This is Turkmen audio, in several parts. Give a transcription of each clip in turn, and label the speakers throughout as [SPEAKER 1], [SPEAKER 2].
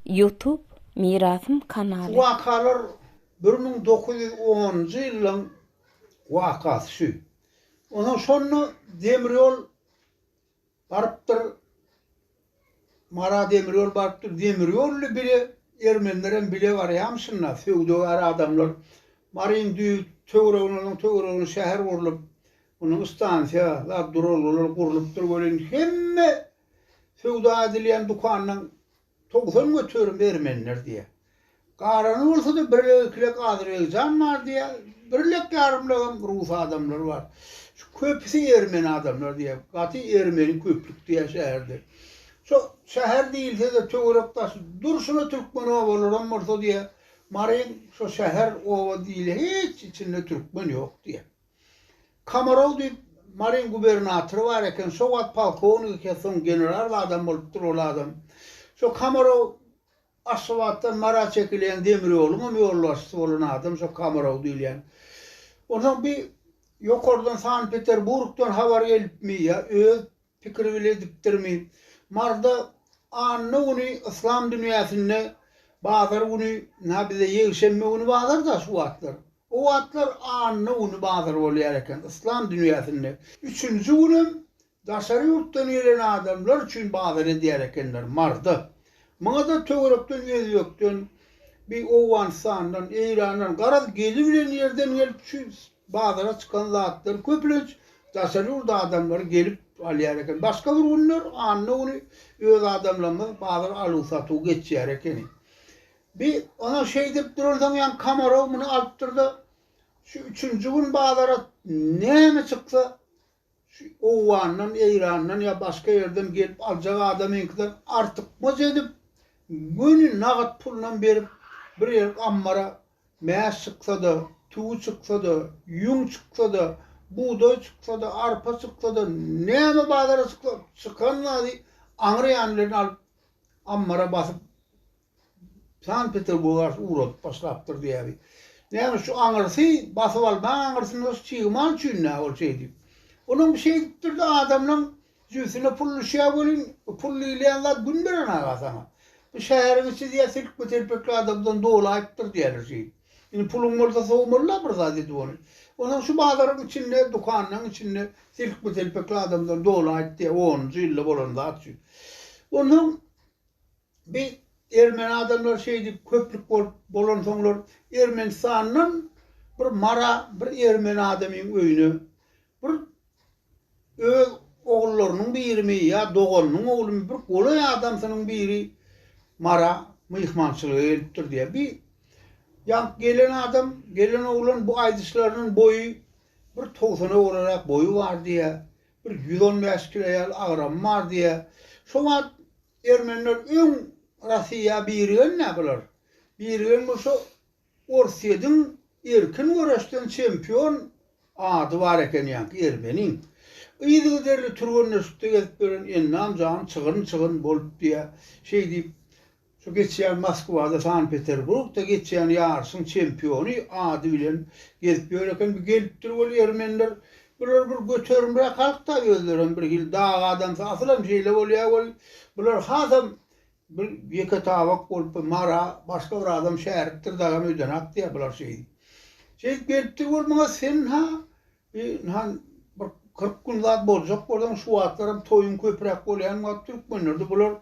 [SPEAKER 1] Youtube Mirasym kanaly. Şu
[SPEAKER 2] wakalar bir müň dokuz ýüz onunjy ýylyň wakasy şu. Onsoň şonda demir ýol barypdyr, Mara demir ýol barypdyr, demir ýolly bile ermenilerem bile barýamyşynda, söwdagär adamlar. Maryň düýp töweregine, onuň töweregine şäher gurlup, onuň stansiýa, zat duralgalar gurlupdyr welin, hemme, Söwda edilýän dükanynyň togsan göterim ermeniler diýýär. Galany bolsa-da birlek-ikilek azerbaýjan bar diýýär, birlek-ýarymlegem rus adamlary bar. Şu köpüsi ermeni adamlar diýýär. Gaty ermeni köplük diýýär şäherde. Şo şäher diýilse-de töwerek-daşy durşuna türkmen obalaram bolsa diýýär, Maryň şo şäher, oba diýilýär hiç içinde türkmen ýok diýýär. Komarow diýip, Maryň gubernatory bar eken, şo wagt polkownik eken, soň general adam bolupdyr ol adam. Şo Komarow Aşgabatdan Mara çekilen demir ýoluň hem ýolbaşçysy bolan adam şo Komarow diýilýän. Onsoň bir ýokardan Sankt-Peterburgdan habar gelipmi ýa öz Pikir bile edipdirmi? Marda anna güni yslam dünýäsinde bazar güni, na bize ýegşenbe güni bazar-da şu wagtlar. O wagtlar anna güni bazar bolýar eken yslam dünýäsinde. Üçünji günem daşary ýurtdan gelen adamlar üçin bazar edýär ekenler marda. Muňa-da töwerekden Özbekden, bir Owganystandan, Eýrandan garaz gelip bilen ýerden gelip şu Bazara çykan zatlary köplenç daşary ýurt adamlary gelip alýar eken. Başga bir günler anna güni öz adamlarymyz bazar aluw-satuw geçýär ekeni. Bi oňa şeýdip duransoň ýan Komarow muny alypdyr-da, şu üçünji gün bazara näme çyksa, Şu Owgandan, Eýrandan ýa başga ýerden gelip aljak adamyňkydan artykmaç edip, göni nagt pulynam berip, bir ýer ammara mäş çyksa-da, tüwi çyksa-da, ýüň çyksa-da, bugdaý çyksa-da, arpa çyksa-da, näme bazara çyksa, çykan zady aňryýanlaryny alyp, ammara basyp, Sankt-Peterburga ugradyp başlapdyr diýýäri. Näme şu aňyrsy basyp alma aňyrsyna şu çig mal üçin-dä ol şeý diýip. Onuň bir şeý diýipdir-de adamlaň jübüsine pul düşýär welin, pul diýilýän zat gün beren aga saňa. Bu şäheriň içi diýýär telpme-telpekli adamdan dolaýypdyr diýýärler şeý. Indi puluň bolsa sowmaly-la bir zat edip ony. Onsoň şu bazaryň içinde, dükanlaryň içinde telpme-telpekli adamdan dolaýypdy onunjy ýylda bolan zat şu. Onsoň bi ermeni adamlary şeýdip köplük bolup bolansoňlar Ermenistandan bir Mara bir ermeni adamyň öýüne bir öz ogullarynyň birimi ýa doganynyň oglumy bir golaý adamsynyň biri Mara myhmançylyga gelipdir diýýär. Bi ýaňky gelen adam, gelen oglan bu aýdyşlarynyn boýy bir togsana golaýrak boýy bar diýýär. Bir ýüz on bäş kiloýal agramym bar diýýär. Şo wagt ermeniler öň Rossiýa birigen-dä bular. Birigen bolsa Orsýediň erkin göreşden çempion ady bar eken ýaňky ermeniň. Yzygiderli türgenleşikde gezip ýören Ennam jan çygyryn-çygyryn bolup diýýär. Şeý diýip, Şu geçýän Moskwada, Sankt-Peterburgda geçýän ýaryşyň çempiony ady bilen gezip ýör eken. Bir gelipdir ol ýermenler. Bular bir göterimräk halk-da, özlerem bir hili dag adamsy. Asylam şeýle bolýar weli, bular hasam bir ýeke tabak bolup, bir mara başga bir adam şäripdir dagam öýdenok diýýär bular şeýdip. Şeýdip gelipdir ol maňa, Sen-ha Ynha, bir kyrk gün zat boljak bolsaň, şu wagtlaram toýuň köpräk bolýan wagt türkmenlerde bular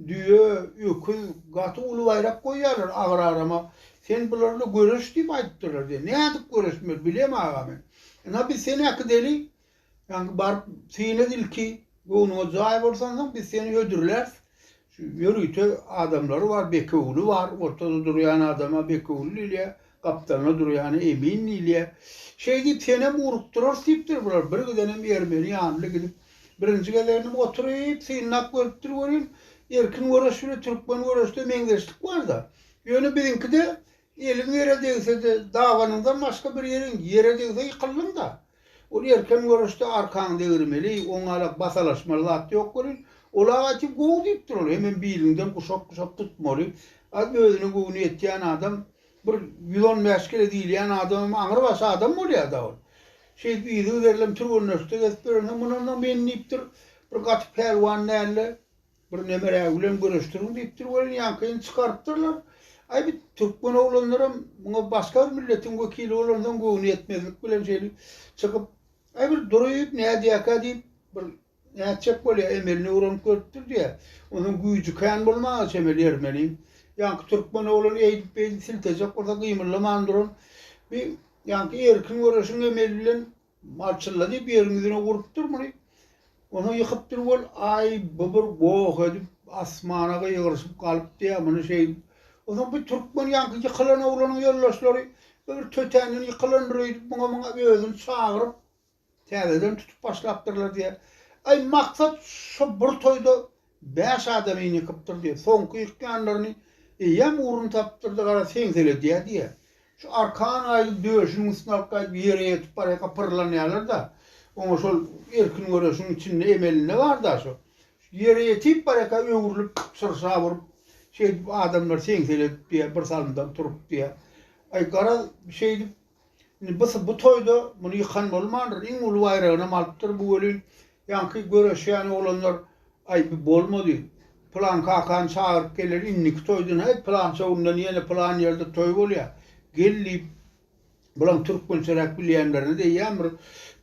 [SPEAKER 2] düýe, öküz, gaty uly baýrak goýýarlar agrarama. Sen bularla göreş diýip aýdypdyrlar diýýär. Nädip göreşmeli, bilem aga men. Ynha, biz seni äkideli, ýaňky baryp, synat ilki, göwnüňe jaý bolsansoň, biz seni hödürläris. Şu ýörite adamlary bar, Bekewüli bar, ortada durýan adama Bekewüli diýilýär, gapdalynda durýana Emin diýilýär. Şeýdip, senem urukdyrarys diýipdir bular. Bir gidenem ermeni ýanly gidip, birinji gezegindim oturyp, synlap görüpdir welin, erkin göreş bile türkmen göreşde meňzeşlik bar-da. Ýöne biziňkide Eliň ýere degsede, dabanyňdan başga bir ýeriň ýere degse ýykyldyň-da. Ol erken göreşde arkaňy degirmeli, oňala basalaşmaly zat ýok welin, ol-a gaty gowy diýipdir ol, hemem biliňden guşap-guşap tutmaly. Az özüne göwni ýetýän adam, bir ýüz on bäş kile diýilýän adamam aňrybaşy adam bolýar-da ol. Şeýdip yzy-üzerlem türgenleşikde gezip ýörensoň, muny onda men diýipdir, bir gaty pälwan däldi. Bir nemere bilen göreşdiriň diýipdir welin ýaňkyny çykarypdyrlar. Aý bu türkmen oglanlaram muňa başga bir milletiň wekili bolansoň göwni ýetmezlik bilen şeýle çykyp Aý bir durup nädýäkä diýip bir nätjek bolýa emelini öwrenip görüpdir diýä. Onsoň güýji kän bolmaga çemeli ermeniň. Ýaňky türkmen oglan eýdip beýdip siltejek bolsa gymyllaman duran bir ýaňky erkin göreşiň emeli bilen Malçylla diýip ýeriň ýüzüne urupdyr muny. Ony ýykypdyr wol, aý, bu bir goh edip, asmana gygyryşyp galypdy ýa muny şeýdip. Onsoň bir türkmen ýaňky ýykylan oglanyň ýoldaşlary we bir tötänden ýykylandyr öýdüp, muňa-muňa özüni çagyryp, täzeden tutup başlapdyrlar diýýär. Aý, maksat şo bir toýda Bäş adamy ýykypdyr diýýär. Soňky ýykýanlaryny eýýäm ugrun tapypdyrda gara seňseledýär diýýär. Şu arkan gaýdyp döşüniň üstüni alyp gaýdyp ýere ýetip barýaka pyrlanýarlar-da. Oňa şol erkin göreşiň içinde emelinde bar-da şu. Ýere ýetip barýaka öwrülip şyrşap urup şeýdip adamlar seňseledip diýýär, birsalymdan turup diýýär. Aý garaz şeýdip Indi bys bu toýda muny ýykan bolmandyr, iň uly baýragynam alypdyr bu welin, ýaňky göreşýän oglanlar, Aý, bu bolmady. Pylan kakany çagyryp geler, indiki toýdan, Häý, pylança günde ýene pylan ýerde toý bolýar. Gel diýip, bulaň türkmençeräk bilýänlerine-de eýýäm bir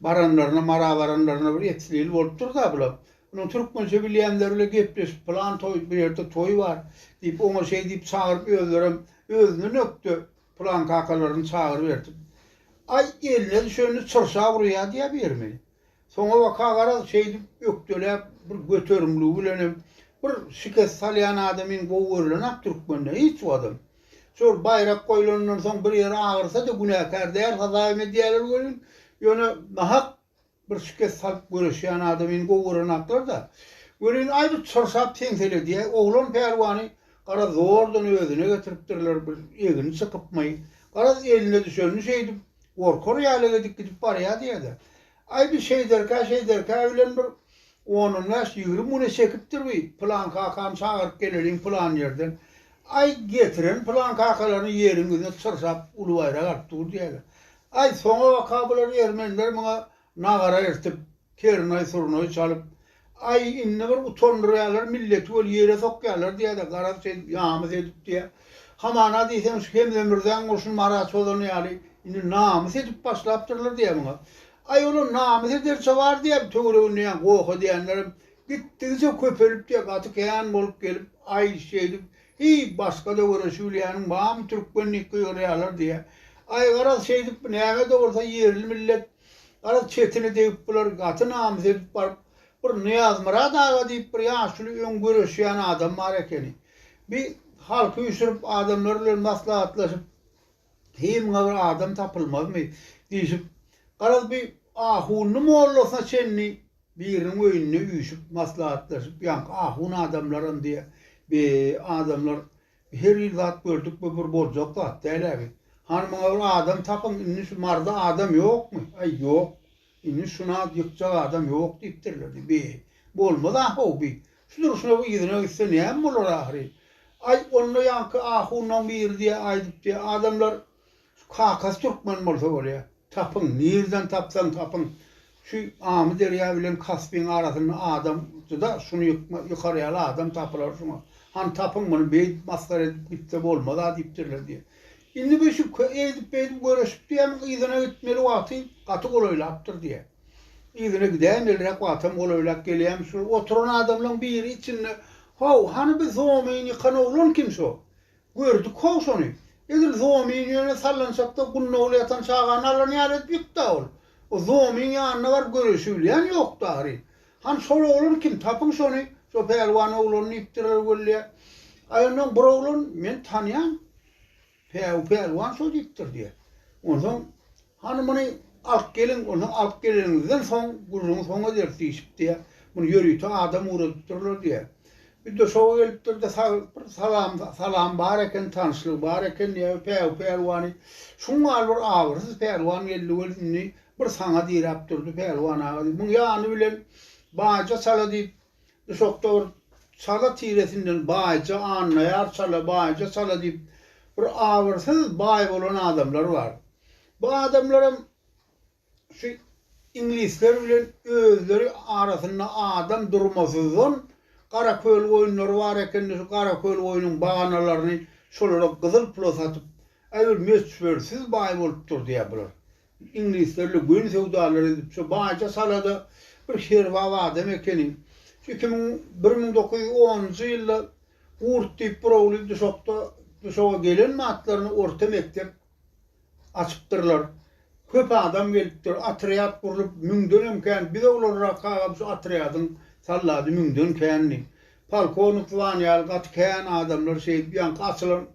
[SPEAKER 2] baranlaryna, mara baranlaryna bir etsilili bolupdyr-da bulaň. Munuň türkmençe bilýänleri bile gepleşip, Pylan toý, bu ýerde toý bar diýip, oňa şeý diýip çagyryp, özlerem özünden ökde Pylan kakalaryny çagyryp ertip. Aý, eline düşenini çyrşa urýa diýýä birimi. Soňabaka garaz, şeýdip ökdeläp, bir göterimligi bilenem, bir şikes salýan adamyň gowy görülen-ä türkmende, hiç watam. Şol baýrak goýlanyndan soň bir ýeri agyrsa-da günäkär däl hasabym edýäler welin, ýöne nahak Bir şikes salyp göreşýän adam indi gowy görenaklar-da. Welin, aý bir çyrşap teňsele diýä. Oglan pälwany garaz zordan özüne getiripdirler, bir egni çykypmy, garaz eline düşenini şeýdip, gorkar ýaly edip gidip barýa diýä-de. Aý bir şeýderkä, şeýderkä bilen bir on-on bäş, ýigrimi güne çekipdir bi, pylan kakany çagyryp geleliň pylan ýerden. Aý, getiren pylan kakalaryny ýeriň ýüzünde çyrşap uly baýrak alyp dur diýä-de. Aý, soňabaka bular ermeniler muňa nagara ertip, ternaý-surnaý çalyp, aý, indi bir utandyrýarlar, milleti weli ýere sokýarlar diýýär-de, garaz, şeýdip, namys edip diýýär. Hamana diýseň, şu Hemze Mürzäň urşuny Marat çozany ýaly, indi namys edip başlapdyrlar diýýär muňa. Aý, olam namys ederçe bar diýýär, töwereginde ýa goh edýänlerem gitdigiçe köpelip diýýär, gaty kän bolup gelip, aý, şeýdip, Heý, başga-da göreş Ýuliýanyň barmy, türkmenlik gygyrýarlar diýýä. Aý, garaz, şeýdip, näme-de bolsa ýerli millet. Garaz, çetine degip bular, gaty namys edip baryp, bir Nyýazmyrat aga diýip bir ýaşuly öň göreşýän adam bar ekeni. Bi halky üýşürip, adamlar bilen maslahatlaşyp, Heý, muňa bir adam tapylmazmy? diýşip, garaz, bi ahundy mollasyna çenli, Biriniň öýünde üýşüp, maslahatlaşyp, ýaňky ahun adamlaram diýýä, Be, adamlar, her hili zat gördük, bu bir boljak zat däl-ä bi. Hany muňa bir adam tapyň, indi şu Maryda adam ýokmy? Aý, ýok. Indi şuna ýykjak adam ýok diýipdirler diý. Be, bolmaz ahow bi. Şu durşuna yzyna gitse näme bolar ahyry? Aý, onda ýaňky ahunlaň biri diýýä, aýdypdy, Adamlar, Şu kakasy türkmen bolsa bolýa. Tapyň, nirden tapsaň tapyň. Şu Amyderýa bilen Kaspyň arasynda adam juda şuny ýykar ýaly adam tapylar şuňa. Hany tapyň muny beýdip masgara edip gitse bolmaz-a diýipdirler diýýär. Indi bu şu eýdip beýdip göreşip diýýämiň yzyna gitmeli wagty gaty golaýlapdyr diýýär. Yzyna gidäýmeliräk wagtam golaýlap gelýämiş şol oturan adamlaň biri içinde How, hany biz Homyny ýykan oglan kim şo? Gördük-how şony. Edil Zoomyň ýüne sallançakda gunnagly ýatan çagany alan ýaly edip ýykdy-a ol. O Zoomyň ýanyna baryp göreşibilýän ýokdy ahyryn. Han, şol oglan kim, tapyň şony, şo pälwan oglan diýipdirler weli-ä. Aý onsoň bir oglan, men tanýan. Päwü pälwan şo diýipdir diýýär. Onsoň Hany muny alyp geliň, onsoň alyp geleniňizden soň gürrüňi soň ederis diýşipdi. Muny ýörite adam ugradypdyrlar diýýär. Bir döşege gelipdir-de, sag, bir salam, salam bar eken, tanyşlygy bar eken diýýär. Päwü pälwany, şuň ýaly bir abyrsyz pälwan geldi weli, indi bir saňa diräp durdy, pälwan aga diýip, muň ýany bilen baýja çala diýip, Duşakda bir çala tiresinden baýja annaýar çala baýja çala diýip bir abyrsyz baý bolan adamlar bar. Bu adamlaram şu iňlisler bilen özleri arasynda adam durmasyzdan gara köl goýunlary bar ekende şu gara köl goýunyň baganalaryny şolara gyzyl pula satyp äbir möçbersiz baý bolup dur diýär bular. Iňlislerle göni söwdalary edip şu baýja salada bir serbap adam ekeni. Şu iki müň bir müň dokuz ýüz onunjy ýylda Gurt diýip bir ogly duşakda duşaga gelen batlaryna orta mekdep açypdyrlar. Köp adam gelipdir. Atrýat gurlup müňdenem kän biz oglanrakagam şu atrýadyň sallady müňden kändi. Polkownik Zwan ýaly gaty kän adamlar şeýdip ýaňky açylan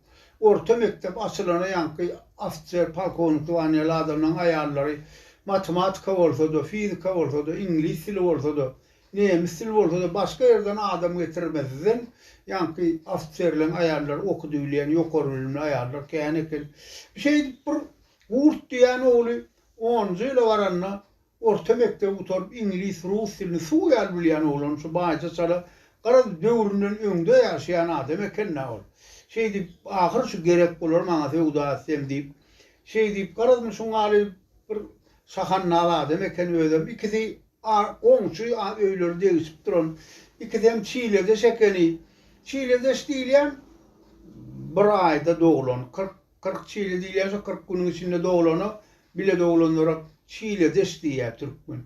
[SPEAKER 2] orta mekdep açylana ýaňky ofitser polkownik Zwan ýaly adamlaň aýallary matematika bolsada fizika bolsada iňlis dili bolsada nemis dili bolsada başga ýerden adam getirmezden ýaňky ofitserleň aýallary okudybilýän ýokary bilimli aýallar kän eken şeýdip bir gurt diýýän ogly onunjy ýyla baranda Orta mekdebi gutaryp iňlis, rus dilini suw ýaly bilýän oglan şu baýja çala garaz döwründen öňde ýaşaýan adam ekenna ol. Şeýdip ahyry şu gerek bolar maňa söwda etsem diýip şeýdip garazmy şu ňaly bir şahannal adam eken özem ikisi goňşy öýleri degişip duran ikisem çiledeş ekeni. Çiledeş diýilýän bir aýda doglan kyrk Kyrk çile diýilýän şu kyrk günüň içinde doglana, bile doglanlara çiledeş diýýär türkmen.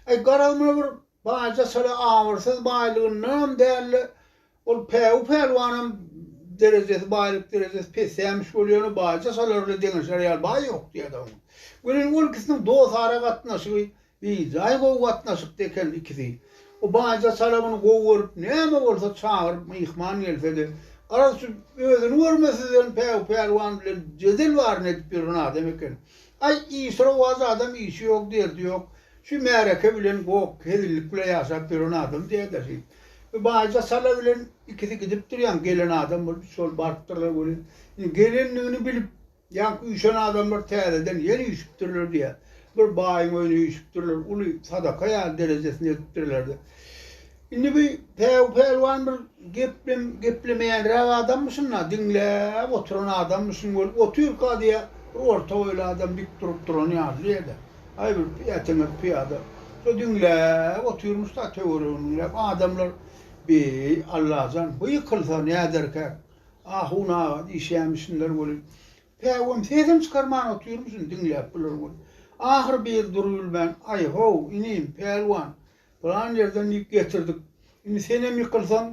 [SPEAKER 2] Aý, garaz muny bir baja çala abyrsyz baýlygyndanam däl-de, ol päwü pälwanam derejesi, baýlyk derejesi pesämiş bolýany baja çalarly deňeşer ýaly baý ýok diýýär-de oňa. Welin ol ikisiniň dost ara gatnaşygy Beýjaý gowy gatnaşykda eken ikisi. O baýja Salawuny gowy görüp, näme bolsa çagyryp myhman gelse-de, garaz şu özüni görmesizden Päwük pälwan bilen jedel baryny edip ýören adam eken. Aý, işrowaz adam işi ýok, derdi ýok. Şu märeke bilen gok, hezillik bilen ýaşap ýören adam dädäşi. Bu baýja Sala bilen ikisi gidip durýan, gelen adam bolup şol barypdyrlar welin, indi gelendigini bilip, Ýaňky üýşen adamlar täzeden ýene üýşüpdirler diýýär. Bir baýyň öýüne üýşüpdirler, uly sadaka ýaly derejesini edipdirler-de. Indi bu Päw pälwan bir geplem geplemeýänräk adammyşyn-da, diňläp oturan adammyşyn bolup otyrka diýýär, bir orta boýly adam dik durup duran ýaly diýýär-de, aý bir ýeteňek pyýada. Şo diňläp otyrmyş-da, töweregini diňläp, adamlar, Beý, Allajan, bu ýykylsa näderkäk? Ahun aga diýişýämişinler weli. Päwem sesem çykarman otyrmyşyn diňläp bular weli. Ahyry bir dur gülmän, Aý-how, inim, pälwan, pylan ýerden diýip getirdik. Indi senem ýykylsaň,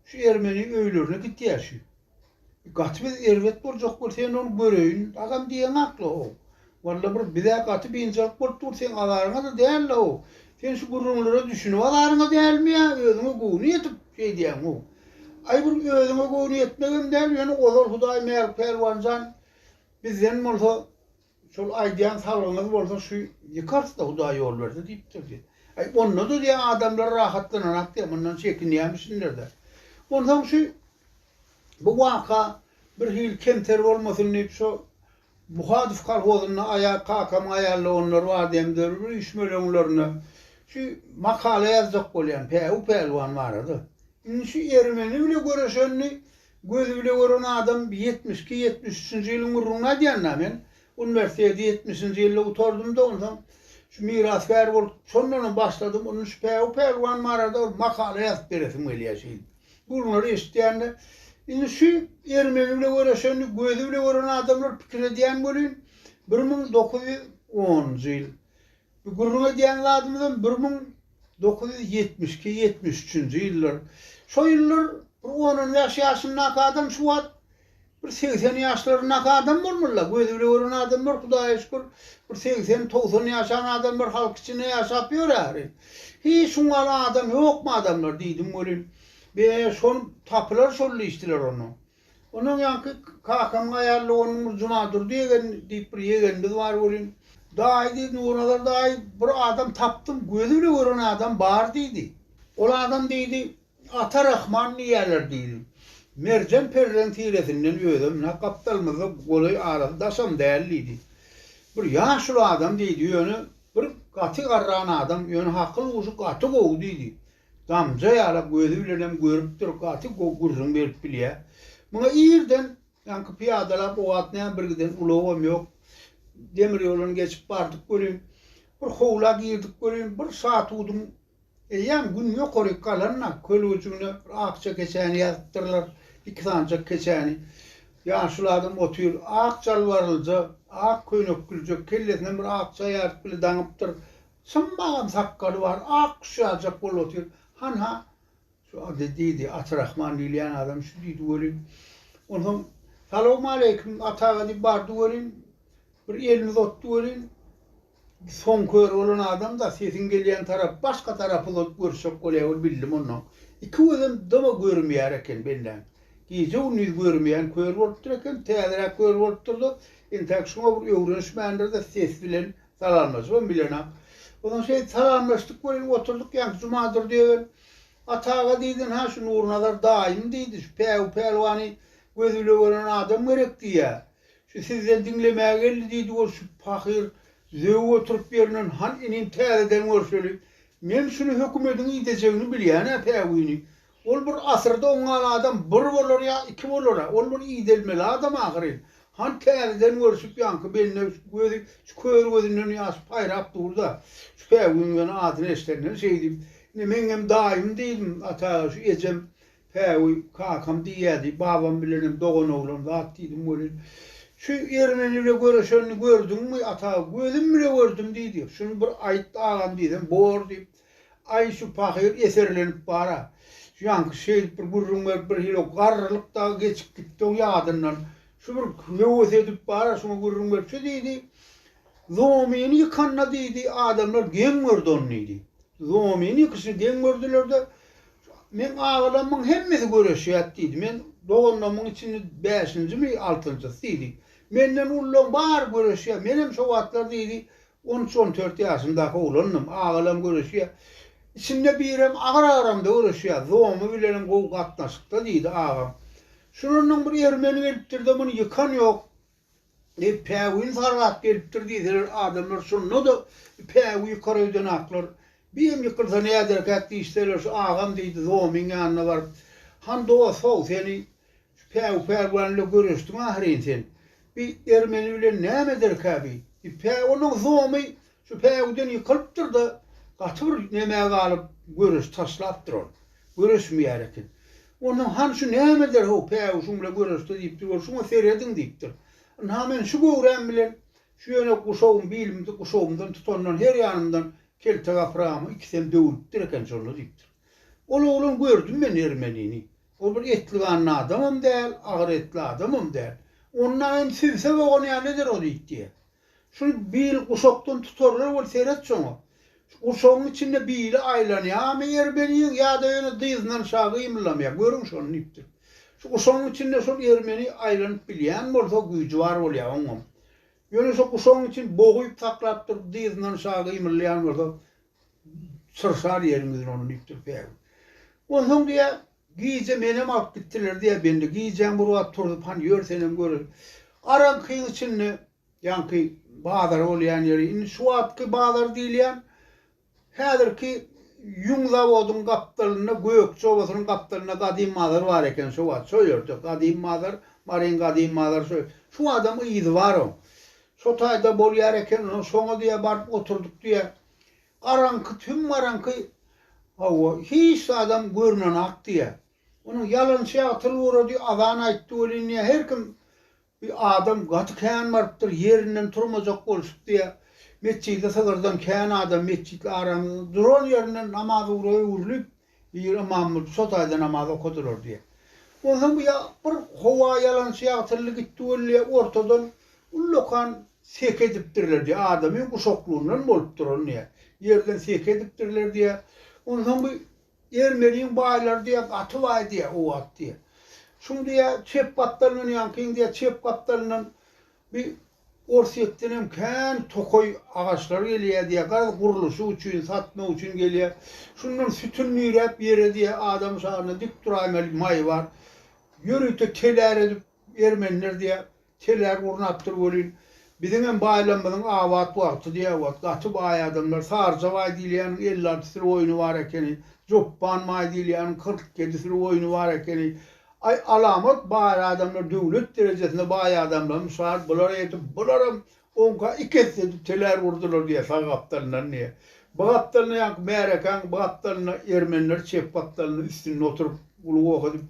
[SPEAKER 2] şu ermeni öýlerine gitýär şi. Gaty biz erbet boljak weli, sen ol göreýin, agam diýeň hakly-how. Walla bir bizä gaty biynjalyk bolup dur seň azaryňada däl la o sen şu gürrüňlere düşünip azaryňa dälmi ýa özüňe göwni ýetip şeýdýäň how aý bir özüňe göwni ýetmegem däl ýöne ozal hudaý mälik pälwanjan bizden bolsa şol aýdýan salgyňyz bolsa şu ýykarsda hudaý ýol berse diýipdir diýýär aý ondada diýýär adamlar rahatlanarak diýýär mundan çekinýämişinlerde onsoň şu bu waka bir hili kemter bolmasyn diýip şo Buhadow kolhozynda Aýaz kakamyň aýaldoganlary bar diýen dürli üýşmeleňlerine şu makala ýazjak bolýan Päwü pälwan barada. Indi şu ermeni bile göreşenini gözi bile gören adam ýetmiş iki, ýetmiş üçünji ýylyň gürrüňini aýdýan da men uniwersiteti ýetmişinji ýylda gutardym da onsoň şu mirasgär bolup şondanam başladym indi şu Päwü pälwan barada bir makala ýazyp beresim gelýär şeýdip. Gürrüňleri eşitýän-de, indi şu ermeni bile göreşenini gözi bile gören adamlar pikir edýän welin, bir müň dokuz ýüz onunjy ýyl. Bu gürrüň edýän zadymyzam bir müň dokuz ýüz ýetmiş iki, ýetmiş üçünji ýyllar. Şo ýyllar bir on-on bäş ýaşyndaky adam şu wagt Bir segsen ýaşlaryndaky adam bolmaly-la. Gözi bile gören adamlar, Hudaýa şükür, bir segsen, togsan ýaşan adamlar halk içinde ýaşap ýör ähli. Hiç şuň ýaly adam ýokmy adamlar diýdim welin, Be, şon tapylar şol diýişdiler onda. Ondan ýaňky kakamyň aýallygy onuň bir Junadurdy ýegen diýip bir ýegenimiz bar welin, Daýy diýdi, Nurnazar daýy, bir adam tapdym, gözi bile gören adam bar diýdi. Ol adam diýdi, Ata Rahman diýýärler diýdi. Merjen perdeň tiresinden özem nä gapdalymyzda golaý arasy daşam däl diýdi. Bir ýaşuly adam diýdi, ýöne bir gaty garran adam, ýöne hakyl-huşy gaty gowy diýdi. Damja ýala gözi bilenem görüp dur, gaty gowy gürrüň berip bilýä. Muňa irden ýaňky pyýadalap o wagt näme bir giden ulagam ýok. Demir ýoldan geçip bardyk welin, bir howla girdik welin, bir şatudyň Eýýäm gün ýokaryk galanda köl gujuna bir akja keçäni ýazypdyrlar, iki sanjak keçäni. Ýaşuly adam otyr, ak jalbarylja, ak köýnekgüljek, kellesinem bir akja ýaryp bile daňypdyr. Çynbagam sakgaly bar, ak guş ýazjak bolup otyr. Hanha, şu ady, diýdi, Atyrahman diýilýän adam şu diýdi welin. Onsoň, Salawmaleýkim, Ata aga diýip bardy welin, bir elini uzatdy welin, Soň kör bolan adam-da sesiň gelýän tarap başga tarap uzadyp görüşjek bolýar, ol bildim onnoň. Iki gözem dama görmeýär eken benläň. Gije-gündiz görmeýän kör bolupdyr eken, täzeräk kör bolupdyr-da, entäk şuňa bir öwrenişmändir-de ses bilen salamlaşybam bilenok. Onsoň şeýdip salamlaşdyk welin oturdyk, ýaňky Jumadurdy ýegen, Ata aga diýdin-hä, şu Nurnazar daýym diýdi, şu Päwü pälwany gözi bile gören adam gerek diýýär. Şu sizden diňlemäge geldi, diýdi görşüp pahyr. Zöwwe oturyp ýerinden, Han inim, täzeden görşeli. Men şuny hökümediň idejegini bilýän-ä päwini. Ol bir asyrda oňňan adam bir bolar ýa iki bolar-a. Ol bir idelmeli adam ahyryn. Han täzeden görşüp ýaňky bende şu gözi, şu kör gözünden ýaş paýrap dur-da, şu päwiniň ýöne adyny eşidenden şeýdip, Ine, meňňem daýym diýdim, ata aga, şu ejem Päwü, kakam diýýärdi, babam bilenem doganoglan zat diýdim welin, Şu ermeni bile göreşenini gördüňmi, ata, gözüm bile gördüm diýdi. Şuny bir aýt, agam diýsem, Bor diýip, Aý, şu pahyr eserlenip bar-a. Ýaňky şeýdip bir gürrüň berip, birhili garrylyk dagy geçip gitdi-oň ýadyndan. Şu bir höwes edip bar-a, şuňa gürrüň berip, şu diýdi, Zomyny ýykanda diýdi, adamlar geň gördi ony diýdi. Zomyny ýykyşyny geň gördüler-de, Meň agalarymyň hemmesi göreşýär, diýdi. Men, Doganlarymyň içinde bäşinjimi, altynjysy, diýdi. Menden ulularyň bary göreşýär. Menem şo wagtlar, diýdi, on üç, on dört ýaşymdaky oglandym. Agalarym göreşýär. Içinde birem agyr agramda göreşýär. Zomy bilenem gowy gatnaşykda, diýdi agam. Şundan öň bir ermeni gelipdir-de, muny ýykan ýok. Päwin sargap gelipdir diýseler adamlar şonda-da päwi ýykar öýdenaklar. Birem ýykylsa näderkäk diýişseler şu agam diýdi Zomyň ýanyna baryp. Han dos-how seni şu päwi pälwan ile göreşdiň ahyryn sen. Bi ermeni bilen näme ederkä bi? Diýip päwiniň Zomy Şu päwüden ýykylypdyr-da, gaty bir nemä galyp, göreşi taşlapdyr ol. Göreşmeýär eken. Onsoň, Hany şu nämedir-how, päwü şuň bilen göreşse diýip dur ol. Şuňa serediň diýipdir. Ynha, men şu göwräm bilen şu ýöne guşagym, bilimde guşagymdan tutandan her ýanymdan kelte gapragamy ikisem döwülipdir eken şonda diýipdir. Ol oglan, Gördüm men ermenini. Ol bir etli-ganly adamam däl, agyr etli adamam däl. Ondan hem sübse bogan ýaly eder o diýdi diýýär. Şuny bil guşakdan tutarlar weli seret şoňa. Şu guşagyň içinde bili aýlanýamy ermeniň ýa-da ýöne dyzyndan aşa gymyldamaýar. Görüň şony diýipdir. Şu guşagyň içinde şol ermeni aýlanyp bilýän bolsa güýji bar bolýar oňam. Ýöne şu guşagyň içini boguýup saklap durup dyzyndan aşa gymyldaýan bolsa çyrşar ýeriň ýüzüni ony diýipdir Päwül. Onsoň diýýär Gije menem alyp gitdiler diýýär bendi. Gijäň bir wagt turzup, Hany ýör senem göreýin. Garaňkyň içinde, ýaňky bazar bolýan ýeri, indi şu wagtky bazar diýilýän, häzirki ýüň zawodyň gapdalynda, Gökje obasynyň gapdalynda gadym bazar bar eken şo wagt. Şo ýerde gadym bazar, Maryň gadym bazary şo ýerde. Şu wagtam yzy bar oň. Şo taýda bolýar eken, onsoň şoňa diýýär baryp oturdyk diýýär. Garaňky, tüm garaňky, hawa, hiç zadam görnenok diýýär. Onuň ýalançy ýagy tyl gurady, azan aýtdy welin diýýär, her kim bi adam gaty kän barypdyr, ýerinden turmajak bolşup diýýär. Metjidi sygyrdan kän adam metjitli aramyzda duran ýerinden namaz ugra öwrülip, Bir ymam bolup şo taýda namaz okadylar diýýä. Onsoň bu ýa bir howa ýalançy ýagtyldy gitdi weli ýa ortadan ullakan sek edipdirler diýýä. Adamyň guşaklygyndan bolupdyr ol diýýä. Ýerden sek edipdirler diýýä. Onsoň bu Ermeniň baýlary diýýä gaty baý diýýä o wagt diýýä. Şuň diýýä çep gapdalyndan ýaňkyň diýýä çep gapdalyndan bir Orsýetdenem kän tokaý agaçlary gelýär diýýär. Garaz, gurluşyk üçin, satmak üçin gelýär. Şundan sütün nüýräp ýere diýýär, adam şalyna dik duraýmaly maý bar. Ýörite telär edip ermeniler diýýär. Telär gurnapdyr welin, biziňem baýlamymyzyň abat wagty diýýär. Wah, gaty baý adamlar. Saryja baý diýilýäniň elli alty sürü goýny bar ekeni. Jopban baý diýilýäniň kyrk ýedi sürü goýny bar ekeni. Aý alamat baý adamlar döwlet derejesinde baý adamlar mysal bular edip bularam onka iki esse edip telär urdular diýe sag gapdalyndan diýe bu gapdalynda ýaňky märekäň bu gapdalynda ermenler çep gapdalynda üstünde oturyp uly goh edip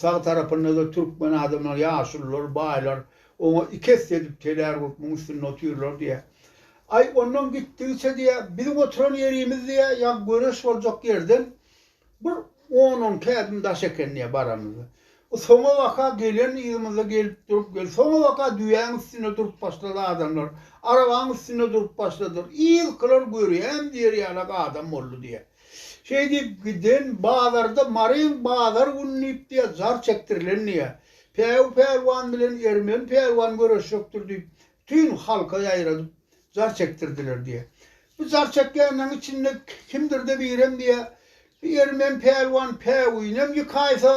[SPEAKER 2] sag tarapyndada türkmen adamlar ýaşulylar baýlar oňa iki esse edip telär urup muň üstünde otyrlar diýe aý ondan gitdigiçe diýe biziň oturan ýerimiz diýe ýaňky göreş boljak ýerden Bir on-on käbim daş eken diýýär baramyzda. Soňabaka gelen yzymyzda gelip durup gel. Soňabaka düýäň üstünde durup başlady adamlar. Arabaň üstünde durup başladylar. Yzkylar görýäm diýer ýalak adam boldy diýýär. Şeý diýip giden bazarda Maryň bazar güni diýip diýýär jar çekdirilen diýýär. Päw pälwan bilen Ermen pälwan göreşjekdir diýip, tün halka ýaýradyp, Jar çekdirdiler diýýär. Bu jar çekýänleriň içinde kimdir-de birem diýýär, Bu ermen pälwan päwüýinem ýykaýsa,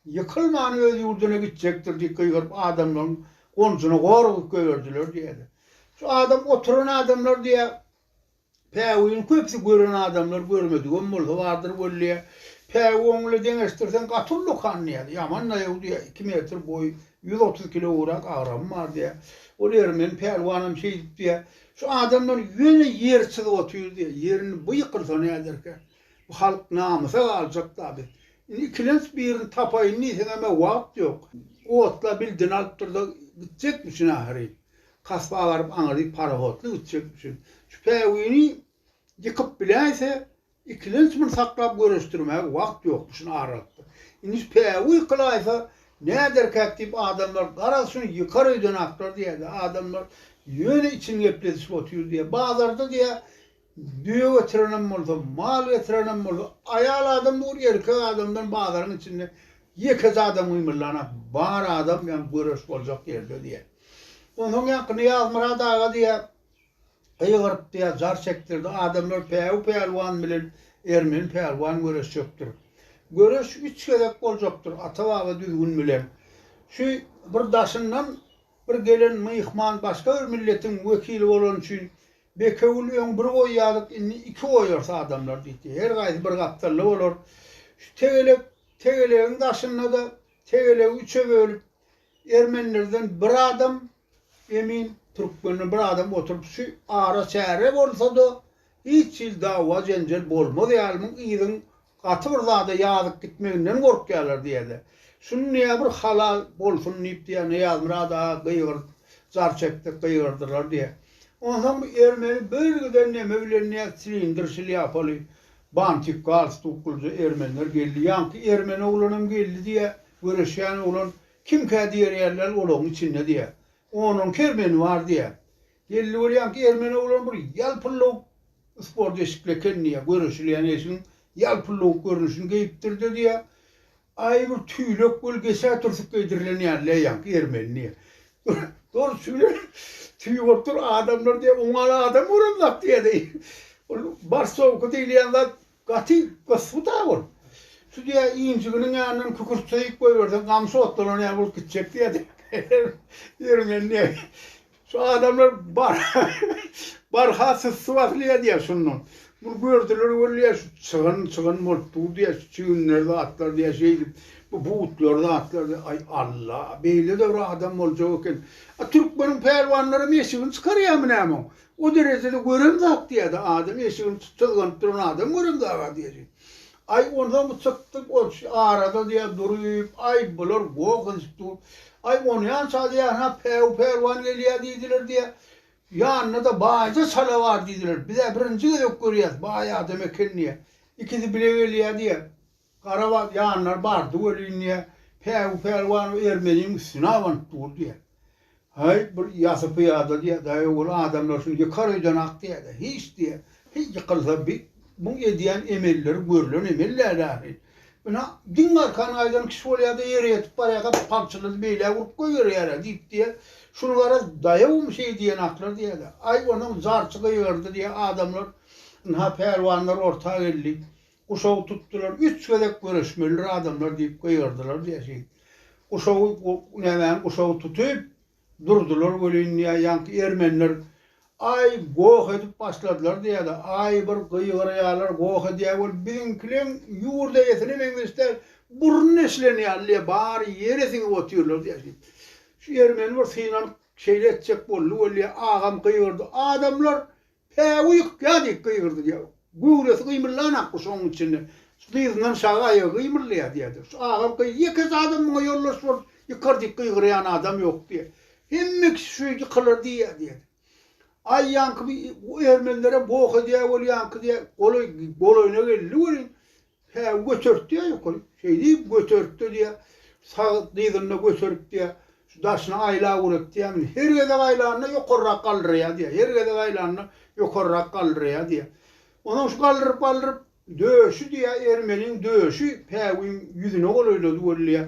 [SPEAKER 2] ýykylman öz ýurduna gitjekdir diýip gygyryp adamlaryň gonjuna gor urup goýberdiler diýýärler. Şu adam oturan adamlar diýýär, päwüýini köpüsi gören adamlar, görmedigem bolsa bardyr weliýa, päwüý oňle deňeşdirseň gaty ullakan diýýär, ýaman-da ýow diýýär, iki metr boýy, Ýüz otuz kilograk agramym bar diýýär. Ol ermeni pälwanam şeýdip diýýär. Şu adamlar ýöne ýer çyzyp otyr diýýär. Ýerini bu ýykylsa näderkä? Bu halk namysa galjak da biz. Indi ikilenç birini tapaýyn diýseňem-ä wagt ýok. Otla bildini alyp durda gitjekmişin ahyryn. Kasba baryp aňyrdy parahodly gitjekmişin. Şu päwini ýykyp biläýse Ikilenç muny saklap göreşdirmäge wagt ýokdy, şuny aralypdyr. Indi päwü ykylaýsa, näderkäk diýip adamlar garaz şuny ýykar öýden aklar diýýärdi. Adamlar ýöne içini gepledişip otyr diýýär. Bazarda diýýär, düýe getirenem bolsa, mal getirenem bolsa, aýal adam dur, erkek adamdan bazaryň içinde ýekeje adam gymyldanak, bar adam ýaňy göreş boljak ýerde diýýär. Onsoň ýaňky Nyýazmyrat aga diýýär. Gygyrypdy ýa jar çekdirdi, Adamlar Päwü pälwan bilen Ermeni pälwan göreşjekdir. Göreş üç gezek boljakdyr, ata-baba düzgün bilen. Şu bir daşyndan bir gelen myhman başga bir milletiň wekili bolany üçin, Bekewül öň bir goýýardyk, indi iki goýarys adamlar diýdi. Her gaýsy bir gapdalda bolar. Şu tegelek, tegelegiň daşynda-da tegelegi üçe bölüp, ermenilerden bir adam, Emin türkmende bir adam oturyp şu ara çäre bolsada hiç hili dawa jenjel bolmaz ýalymyň yzyň gaty bir zada ýazyp gitmeginden gorkýalar diýýäde şuny niýe bir halal bolsun diýip diýýä Nyýazmyrat aga gygyryp jar çekdik gygyrdylar diýýä onsoň bu ermeni bölgiden neme bilen niýe silindr şlýapaly bantik galstuklyja ermenler geldi ýaňky ermeni oglanam geldi diýýä göreşýän oglan Kimkä diýer ýerler olagyň içinde diýýä. Onuň kermeni bar diýýä. Belli bolýan ki ermeni oglan bir ýalpyllawuk sport eşikli eken diýýä. Göreşilýän eşigiň ýalpyllawuk görnüşini geýipdirde diýýä. Aý bir tüýlek weli geçä türsük geýdirilen ýaly leýen ki ermeni diýýä. Doly tüýlek tüýi bolup dur adamlar diýýä. Oňa adam göremzok diýýä deý. Ol barsowka diýilýän zat Gaty gysby-da ol. Sudýa injiginiň ýanyndan kükürtseýik goýberseň, gamsy otlanan ýaly bolup gitjek diýýärdi. Ermeni diýýär, Şu adamlar barha, barha syssy basylýar diýýär şondan. Muny gördüler weli, şu çygyn, çygyn bolup dur diýýär, şu çiginler zatlar diýýär, şeýdip, bu butlar zatlar diýýär. Aý, Alla, beýle-de bir adam boljak eken. A türkmeniň pälwanlaram eşigini çykarýarmy näme oň? O derejede görüm zat diýýä-de adam, eşigini çyzganyp duran adam görüm zaga diýjek. Aý, onsoň bu çykdyk orçy arada diýýä duryp, aý, bular goh edip dur. Aý, onýan çal ýa-ha päwü pälwan gelýä diýdiler diýýä. Ýanynda-da baýja çala bar diýdiler. Biz-ä birinji gezek görýäs, baý adam eken diýýä. Ikisi bile gelýä diýýä. Garabaz ýanyna bardy welin, diýýär, Päwü pälwan o ermeniň üstüne abanyp dur, diýýär. Häý, bu ýasy pyýada, diýýär, daýaw bol, adamlar şuny ýykar öýden-ak, diýýär-de, hiç, diýýär, hiý, ýykylsa bi, buň edýän emelleri görlen emel däl ahyry. Ine, diň garkan gaýdan kişi bolýar-da, ýere ýetip barýarka palçylady beýlä urup goýberýär-ä, diýip, diýýär, şuny garaz, daýawmy şeý diýen-aklar, diýýär-de. Aý, onuň zarçy gygyrdy, diýýär, adamlar, ynha, pälwanlar orta geldi. Guşagy tutdular, üç gezek göreşmelidir adamlar diýip gygyrdylar diýýär. Guşagy, nämäni guşagy tutup durdular welin diýýär, ýaňky ermeniler aý goh edip başladylar diýýär-de, aý bir gygyrýarlar, goh edýär welin biziňkileň ýurt eýesine meňzeş däl, burun deşilen ýaly bary ýere siňip otyrlar diýýär. Şu ermeni bir synanyp şeýle etjek boldy welin diýýär, agam gygyrdy, adamlar Päwü ýykýa! diýip gygyrdy diýýär. Göwresi gymyllan akguşuň içinde. Şu dyzyndan şagy aýagy gymyldaýar diýýärdi. Şu agam gyz ýeke zadam muňa ýoldaş bolup ýykar diýip gygyrýan adam ýok diýýär. Hemme kişi şu ýykylar diýýär diýýärdi. Aý ýaňky bu ermenlerem boh edýä bolýaňky diýýär. Golaý, golaýyna geldi welin, Hä, götertdi-ä ýokary. Şeýdip, götertdi diýýär. Sag dyzyny-da göterip diýýär. Şu daşyna aýlap urat diýýär. Indi her gezek aýlanyna ýokarrak galdyraýýar diýýär. Her gezek aýlanyna ýokarrak galdyraýýar diýýär. Onsoň şu galdyryp-galdyryp, döşi diýýär, ermeniň döşi päwügiň ýüzüne golaýlady weli diýýär.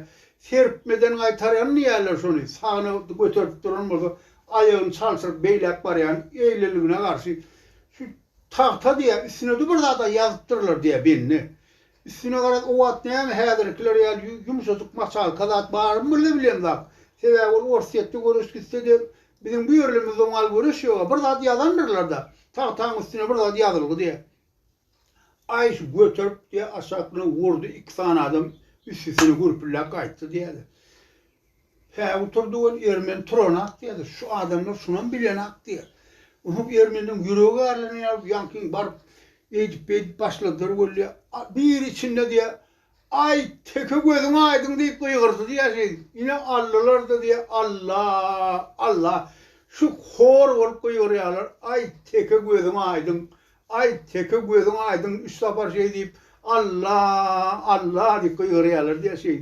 [SPEAKER 2] Serpmeden gaýtarýan diýýärler şony. Sagyna göterip duran bolsa, aýagyny çalşyryp beýläk barýan, eýleligine garşy şu Tagta diýýä, üstüne-de bir zat-a ýazypdyrlar diýýä, bendi. Üstüne garaz, o wagt näme häzirikiler ýaly ýu, ýumşajyk maçalka zat barmy birle bilemzak. Sebäbi ol Orsýetde göreş gitse-de, biziň bu ýerlerimizde oňal göreş ýog-a. Bir zat ýazandyrlar-da, tagtaň üstüne bir zat ýazylgy diýýä. Aý, şu göterip diýýä, aşaklygyna urdy, iki sany adam üstüsine gürpülläp gaýtdy diýýä-de. Päwutur dogan ermeni turanok diýýädi. Şu adamlar şunam bilenok diýýär. Ynha ermenleriň ýüregi garlanan ýaly ýaňky baryp eýdip beýdip başladylar weli. Biri içinde diýýär, Aý, teke gözüň aýdyň diýip gygyrdy diýýär şeýdip. Ine aldylar-da diýýär, Alla, Alla. Şu hor bolup gygyrýarlar, Aý, teke gözüň aýdyň, Aý, teke gözüň aýdyň, üç sapar şeý diýip, Alla! Alla! diýip gygyrýarlar diýýär şeý.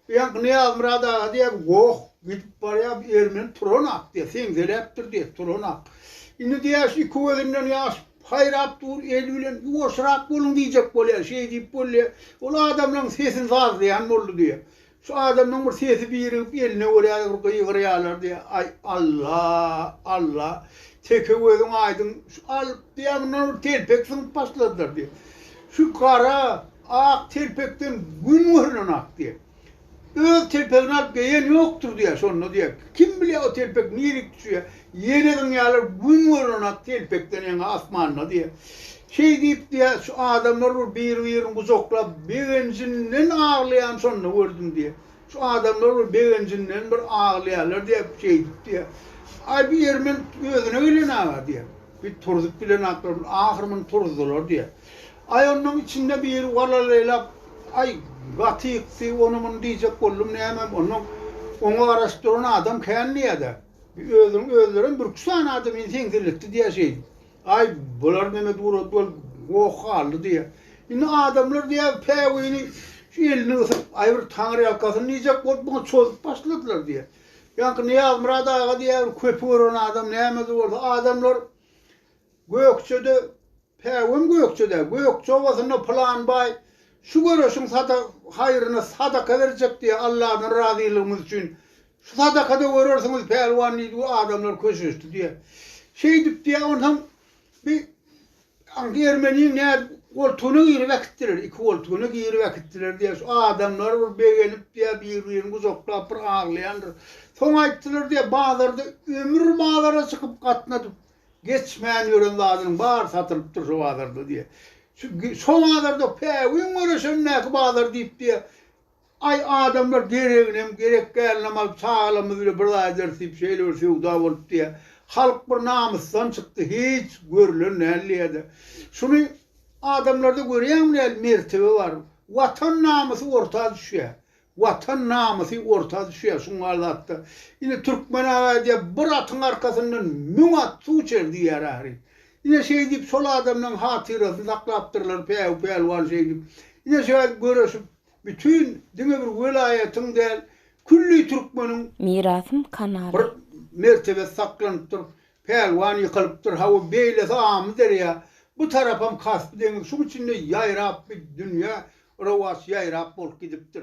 [SPEAKER 2] Bu ýaňky Nyýazmyrat aga diýýär, Goh, gidip barýar, bu ermeni turan-ak diýýär, seňseläpdir diýýär, turan-ak. Indi diýýär, şu iki gözünden ýaş paýrap dur, el bilen, Ýuwaşrak boluň diýjek bolýar, şeý diýip bolýar. Ol adamlaryň sesini sazlaýan boldy diýýär. Şu adamyň bir sesi birigip eline görýärdi bir gygyrýalardy aý Alla Alla teke gözüň aýdyň şu alyp diýýär mundan bir telpek syňyp başladylar diýip şu gara ak telpekden gün görülen ak diýip öz telpegini alyp geýen ýokdur diýýär şonda diýýär kim bilýär o telpek nirek düşýär ýene zyňýarlar gün görülen ak telpekden ýaňa asmanda diýýär Şeý diýipdi-ä, şu adamlar bir bir-birini gujaklap, begenjinden aglaýan şonda gördüm diýýär. Şu adamlar bir begenjinden bir aglaýarlar diýip, şeýdipdi-ä. Aý, bu ýeri men özüne gelen-aga diýýär. Bir turzup bilenaklar, ahyr muny turuzdylar diýýär. Aý, onnoň içinde biri walalaýlap, Aý, gaty ýykdy, ony-muny diýjek boldum, näme, onnoň oňa garaşyp duran adam kän diýýär-de. Özüniň özlerem bürki sanaýdy, meni seňseletdi diýýär şeýdip. Aý, bular näme durat bolup goh galdy diýýä. Indi adamlar diýýä, päwini şu elini gysyp, aý bir taňryýalkasyn diýjek bolup muňa çozup başladylar diýýä. Ýaňky Nyýazmyrat aga diýýä, bir köpi gören adam nämede bolsa, adamlar Gökjede, päwim Gökjede, Gökje obasynda pylan baý şu göreşiň sada haýryna sadaka berjek diýýä, Alladan razylygymyz üçin Şu sadakada görersiňiz, pälwan, diýdi, bu adamlar köşeşdi, diýýär. Şeýdip, diýýär, onsoň bi aňky ermeniň nädip goltugyna girip äkitdiler, iki goltugyna girip äkitdiler, diýýär. Şu adamlar bir begenip, diýýär, bir-birini gujaklap bir aglaýandyr. Soň aýtdylar, diýýär, bazarda ömür bazara çykyp gatnadyp geçmän ýören zadynyň bary satylypdyr şu bazarda, diýýär. Şu şu bazarda päwin göreşendäki bazar diýip, diýýär, Aý, adamlar dereginem gerek däl namaz, çagalarymyz bile bir zaýa ederis diýip şeýle bir söwda bolup diýýär. Halk bir namysdan çykdy, hiç görlen däl diýýär-de. Şuny adamlarda görýäňmi nähili mertebe bar. Watan namysy orta düşýär. Watan namysy orta düşýär şuň bar zatda. Ine türkmen aga aýdýar, bir atyň arkasyndan müň at suw içer diýýär ahyry. Ine şeýdip şol adamlaryň hatyrasyny saklapdyrlar päwü-pälwan şeýdip. Ine şeýdip göreşip. Bütün diňe bir welaýatyň däl külli türkmeniň. Mirasym kanaly.
[SPEAKER 1] Bir mertebesi
[SPEAKER 2] saklanypdyr. Pälwan ýykylypdyr hawa beýlesi Amyderýa bu tarapam Kaspy deňiz şuň içinde ýaýrap bi dünýä rowaç ýaýrap bolup gidipdir.